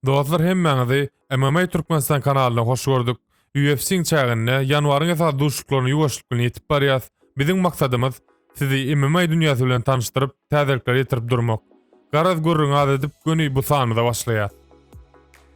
Dostlar hemmäňizi MMA Türkmenistan kanalyna hoş gördük. UFC-iň çäginde ýanwaryň esasy duşuşyklaryna ýuwaşlyk bilen ýetip barýas. Biziň maksadymyz sizi MMA dünýäsi bilen tanyşdyryp, täzelikleri ýetirip durmak. Garaz gürrüňi az edip göni bu sanymyza başlaýas.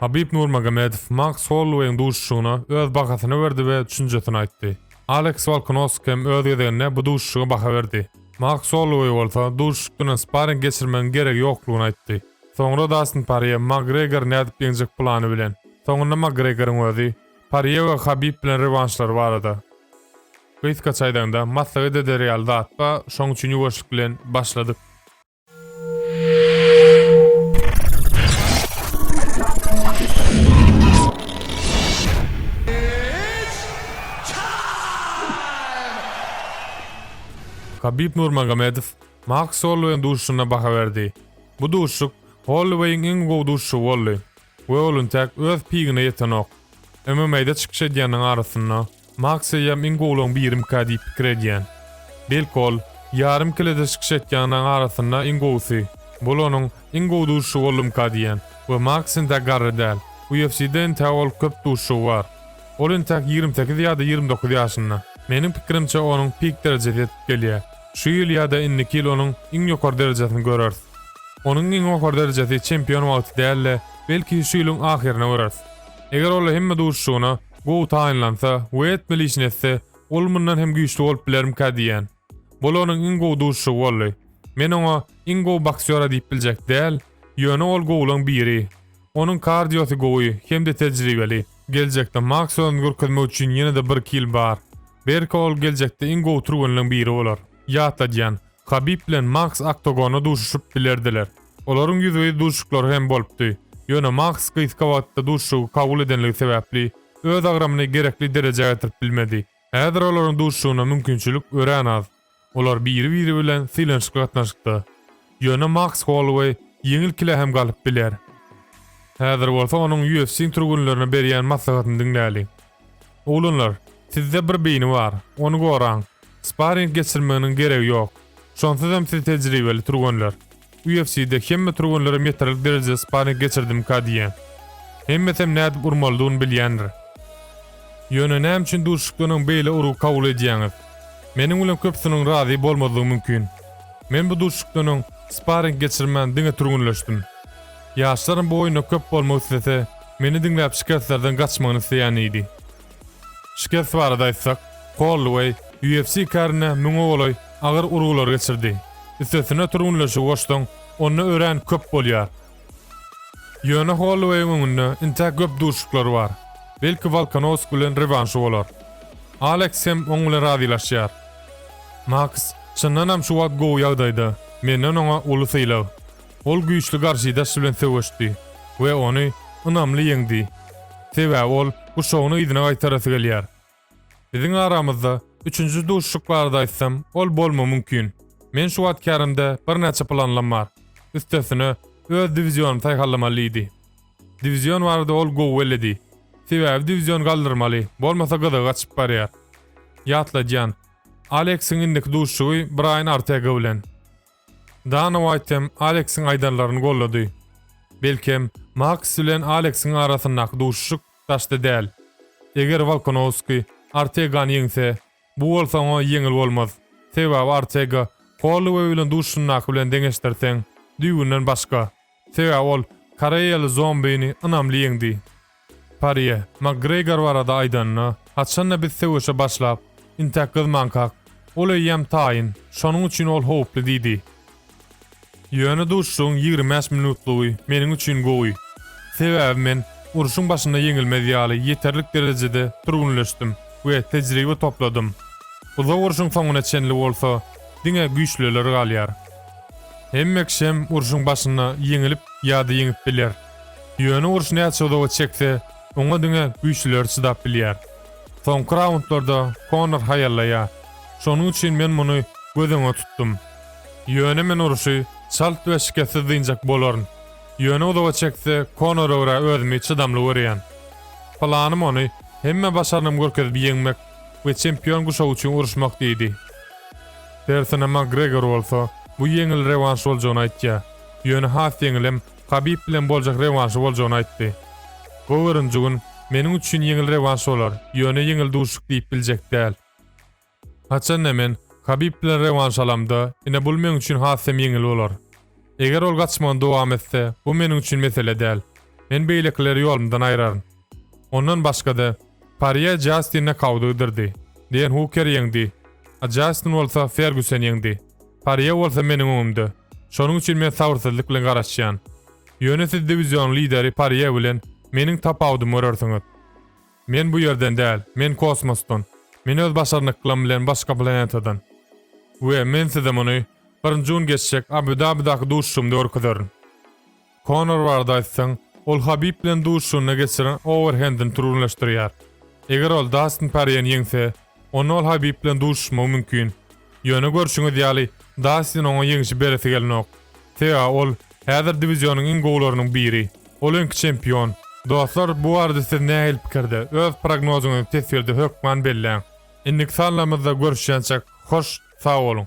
Habib Nurmagomedow Maks Holloueýiň duşuşygyna öz bahasyny berdi we düşünjesini aýtdy. Aleks Wolkanoswk hem öz gezeginde bu duşuşyga baha berdi. Maks Holloueý bolsa duşuşyk dönen sparing geçirmegiň geregi ýoklugyny aýtdy. Soňra Dastin Parýe, Makgregor nädip ýeňjek plany bilen. Soňunda Makgregoryň özi, Parýe we Habib bilen rewanşlary barada. Gysga çaýdaňda, maslahat eder ýaly zat ba, şoň üçin ýuwaşlyk bilen başladyk. Habib Nurmagomedow, Mark Solweýn duşuşyna baha berdi. Bu duşuşyk Holloweýiň iň gowy duşuşygy boldy we ol intäk öz pigine ýetenok. MMA-da çykyş edýänleriň arasynda Maksýam iň gowularyň birimka diýip pikir edýän. Belki ol ýarym kelede çykyş etýänleriň arasynda iň gowusy, bul onuň iň gowy duşuşygy boldumyka diýen we Maks intäk garry däl. UFC-de intäk ol köp duşuşygy bar. Ol intäk ýigrimi sekiz ýa-da ýigrimi dokuz ýaşynda. Meniň pikirimçe onuň pik derejesi ýetip gelýär. Şu ýyl ýa-da indiki ýyl onuň iň ýokary derejesini göreris. Onuň iň ýokary derejesi çempion wagty däl-de, belki, şu ýylyň ahyryna göreris. Eger ol hemme duşuşygyna gowy taýynlansa we etmeli işini etse, ol mundan hem güýçli bolup bilermikä diýýän. Bul onuň iň gowy duşuşygy boldy. Men oňa iň gowy boksýora diýip biljek däl, ýöne ol gowulaň biri. Onuň kardiosy gowy hem-de tejribeli. Geljekde Maks özüni görkezmek üçin ýene-de birki ýyl bar. Berka ol geljekde iň gowy türgenleň biri bolar. Ýatladýan, Habib bilen Maks oktogonda duşuşyp bilerdiler. Olaryň ýüzbe-ýüz duşuşyklary hem bolupdy. Ýöne Maks gysga wagtda duşuşygy kabul edenligi sebäpli, öz agramyny gerekli derejä getirip bilmedi. Häzir olaryň duşuşygyna mümkinçilik örän az. Olar biri-biri bilen sylanyşykly gatnaşykda. Ýöne Maks Holloweý ýeňil kile hem galyp biler. Häzir bolsa onuň UFC-iň türgenlerine berýän maslahatyny diňläliň. Oglanlar, sizde bir beýni bar, ony goraň. Sparring geçirmeginiň geregi ýok. Şonsuz hem siz tejribeli türgenler. UFC-de hemme türgenlere metrlik derejede sparring geçirdimka diýýän. Hemmesem nädip urmalydygyny bilýändir. Ýöne näme üçin duşuşykdanam beýle urgy kabul edýäňiz? Meniň bilen köpüsiniň razy bolmazlygy mümkin. Men bu duşuşykdan öň sparring geçirmän diňe türgenleşdim. Ýaşlarym bu oýunda köp bolmak islese, meni diňläp şikeslerden gaçmagyny isleýän diýdi. Şikes barada aýtsak, Holloueý UFC kärine müňe golaý agyr urgular geçirdi. Üstesine türgenleşigi goşsaň, onda örän köp bolýar. Ýöne Holloueýiň öňünde intäk köp duşuşyklary bar. Belki Wolkanowski bilen rewanşy bolar. Aleks hem oň bilen razylaşýar. Maks, çyndanam şu wagt gowy ýagdaýda, menden oňa uly sylag. Ol güýçli garşydaş bilen söweşdi we ony ynamly ýeňdi. Sebäbi ol guşagyny yzyna gaýtarasy gelýär. Biziň aramyzda üçünji duşuşyk barada aýtsam, ol bolma mümkin. Men şu wagt kärimde birnäçe planlam bar. Üstesine, öz diwizionym saýhallamaly diýdi. Diwizion barada ol gowy bellidi. Sebäbi diwizion galdyrmaly, bolmasa gyzygy gaçyp barýar. Ýatladýan, Aleksiň indiki duşuşygy Braýan Artega bilen. Dana Uaýt hem Aleksiň aýdanlaryny goldady. Belkem, Maks bilen Aleksiň arasyndaky duşuşyk daşda däl. Eger Wolkonowski Ortegany ýeňse, bu bolsa oňa ýeňil bolmaz. Sebäbi Ortega Holloway bilen duşuşandaky bilen deňeşdirseň, düýbünden başga. Sebäbi ol koreýaly zombini ynamly ýeňdi. Parýe, Makgregor barada aýdanyna, haçan-da biz söweşe başlap, intäk gyzmankak, ol eýýäm taýyn, şonuň üçin ol howply diýdi. Ýöne duşuşygyň ýigrimi bäş minutlygy meniň üçin gowy. Sebäbi men urşuň başynda ýeňilmez ýaly ýeterlik derejede türgünleşdim we tejribe topladym. Uzak urşuň soňuna çenli bolsa, diňe güýçlüler galýar. Hemme kişem urşuň başynda ýeňilip ýa-da ýeňip biler. Ýöne uruş näçe uzaga çekse, oňa diňe güýçlüleri çydap bilýär. Soňky raundlarda Konor haýallaýar. Şonuň üçin men muny göz öňe tutdum. Ýöne men urşy çalt we şikessiz dynjak bolaryn. Ýöne uzaga çekse Konora görä özümi çydamly görýän. Planym ony hemme başarnym görkezip ýeňmek we çempion guşagy üçin uruşmak diýdi. Tersine Makgregor bolsa, bu ýeňil rewanş boljagyny aýtýar. Ýöne has ýeňilem Habib bilen boljak rewanşy boljagyny aýtdy. Bu birinji gün meniň üçin ýeňil rewanş bolar, ýöne ýeňil duşuşyk diýip biljek däl. Haçanda men Habib bilen rewanş alamda, ine bul meň üçin has hem ýeňil bolar. Eger ol gaçmagyny dowam etse, bu meniň üçin mesele däl. Men beýlekileri ýolumdan aýraryn. Ondan başga-da, Parýe Jastinne Kaudy ydyrdy. Deýen Huker ýeňdi. A Jastin bolsa Ferguseni ýeňdi. Parýe bolsa meniň öňümde. Şonuň üçin men sabyrsyzlyk bilen garaşýan. Ýöne siz diwizionyň lideri Parýe bilen meniň tapawudymy görersiňiz. Men bu ýerden däl, men kosmosdan. Men öz başarnyklym bilen başga planetadan. We men size muny birinji gün geçjek Abu-Dabidaky duşuşygymda görkezerin. Konor barada aýtsaň, ol Habib bilen duşuşygynda geçiren owerhendini türgenleşdirýär. Eger ol Dastin Porýeni ýeňse, onda ol Habib bilen duşuşmagy mümkin. Ýöne görşüňiz ýaly, Dastin oňa ýeňşi beresi gelenok. Sebäbi ol häzir diwizýonyň iň gowularynyň biri. Ol öňki çempion. Dostlar, bu barada siz nähili pikirde? Öz prognozyňyzy teswirde hökman belläň. Indiki sanlarymyzda görüşýänçäk, hoş sag boluň!